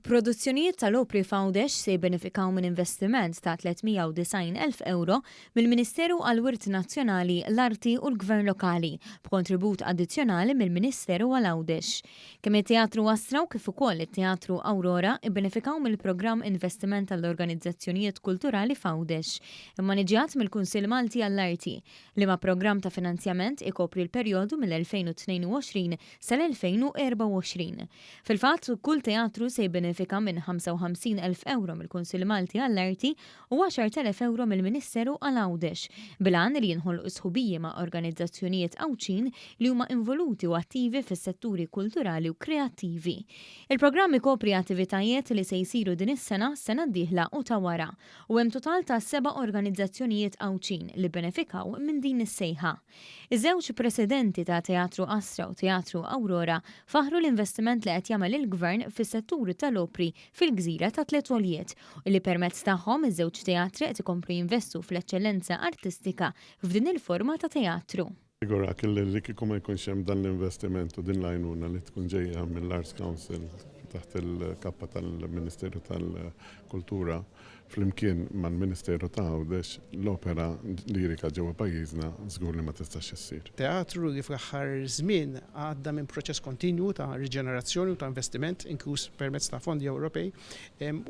Produzzjonijiet tal-opri f'Għawdex se jibbenefikaw minn investiment ta' 390,000 ewro mill-Ministeru għall-Wirt Nazzjonali, l-Arti u l-Gvern Lokali, b'kontribut addizzjonali mill-Ministeru għal Għawdex. Kemm it-Teatru Astra u kif ukoll it-Teatru Aurora bbenefikaw mill-Programm Investiment għall-Organizzazzjonijiet Kulturali f'Għawdex, immaniġġjat mill-Kunsill Malti għall-Arti, Liema programm ta' finanzjament ikopri l-perjodu mill-2022 sal-2024? Fil-fatt, kull teatru se jibbenefika minn 55 elf ewro mill-Kunsill Malti għall-Arti u 10 elef ewro mill-Ministeru għal Għawdex, bil-għan li jinħolqu sħubiji ma' organizzazzjonijiet Għawdxin li huma involuti u attivi fis-setturi kulturali u kreattivi. Il-programm ikopri attivitajiet li se jsiru din is-sena, s-sena d-dieħla u ta' wara. u hemm total ta' seba' organizzazzjonijiet Għawdxin li bbenefikaw minn din is-sejħa. Iż-żewġ presidenti ta' Teatru Astra u Teatru Awrora faħħru l-investiment li qed jagħmel il-Gvern fis-settur tal-opri fil-gżira tat-Tliet Għoljiet u li permezz tagħhom iż-żewġ teatri qed ikomplu jinvestu fl-eċċellenza artistika f'din il-forma ta' teatru. Żgurak li kieku ma jkunx hemm dan l-investiment u din l-għajnuna li tkun ġejja mill-Arts Council taħt il-kappa tal-Ministeru tal-Kultura flimkien mal-Ministeru ta' Għawdex, l-opera lirika ġewwa pajjiżna żgur li ma tistax issir. Teatru li fl-aħħar żmien għadda minn proċess kontinwu ta' riġenerazzjoni u ta' investiment, inkluż permezz ta' fondi Ewropej,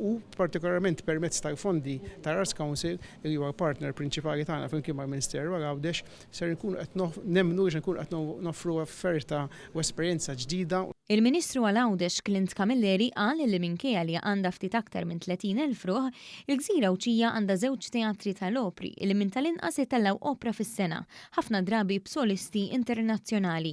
u partikolarment permezz tal-fondi tal-Arts Council li huwa l-partner prinċipali tagħna flimkien mal-Ministeru għal Għawdex Ser inkunu qed nemmnu li se nkunu qed noffru offerta u esperjenza ġdida. Il-Ministru għal Għawdex Clint Camilleri qal li minkejja li għandha ftit aktar minn 30 elf ruħ, il-gżira Għawdxija għandha żewġ teatri tal-opri li minn tal-inqas itellgħu opra fis-sena, ħafna drabi b'solisti internazzjonali.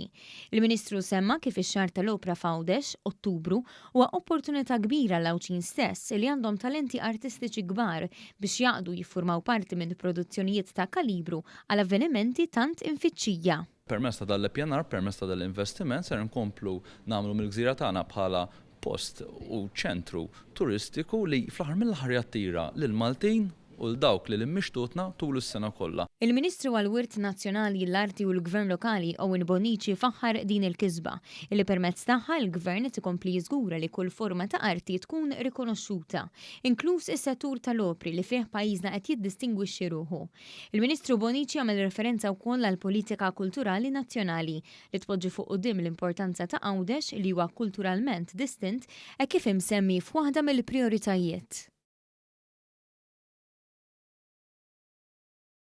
Il-Ministru semma kif ix-xahar tal-opra f'Għawdex, Ottubru, huwa opportunità kbira għall-Għawdxin stess li għandhom talenti artistiċi kbar biex jaqdu jiffurmaw parti minn produzzjonijiet ta' kalibru għal avvenimenti tant imfittxija. Permezz ta' dan l-ippjanar, permezz ta' dan l-investiment ser inkomplu nagħmlu mill-gżira tagħna bħala post u ċentru turistiku li fl-aħħar mill-aħħar jattira lill-Maltin u 'l dawk li lil mixtutna tul is-sena kollha. Il-Ministru għall-Wirt Nazzjonali, l-Arti u l-Gvern Lokali Owen Bonnici faħħar din il-kisba, illi permezz tagħha l-Gvern qed ikompli jiżgura li kull forma ta' arti tkun rikonoxxuta, inkluż is-settur tal-opri li fih pajjiżna qed jiddistingwixxi ruħu. Il-Ministru Bonnici għamel referenza wkoll għall-politika kulturali nazzjonali li tpoġġi fuq quddiem l-importanza ta' Għawdex li huwa kulturalment distint hekk kif imsemmi f'waħda mill-prijoritajiet.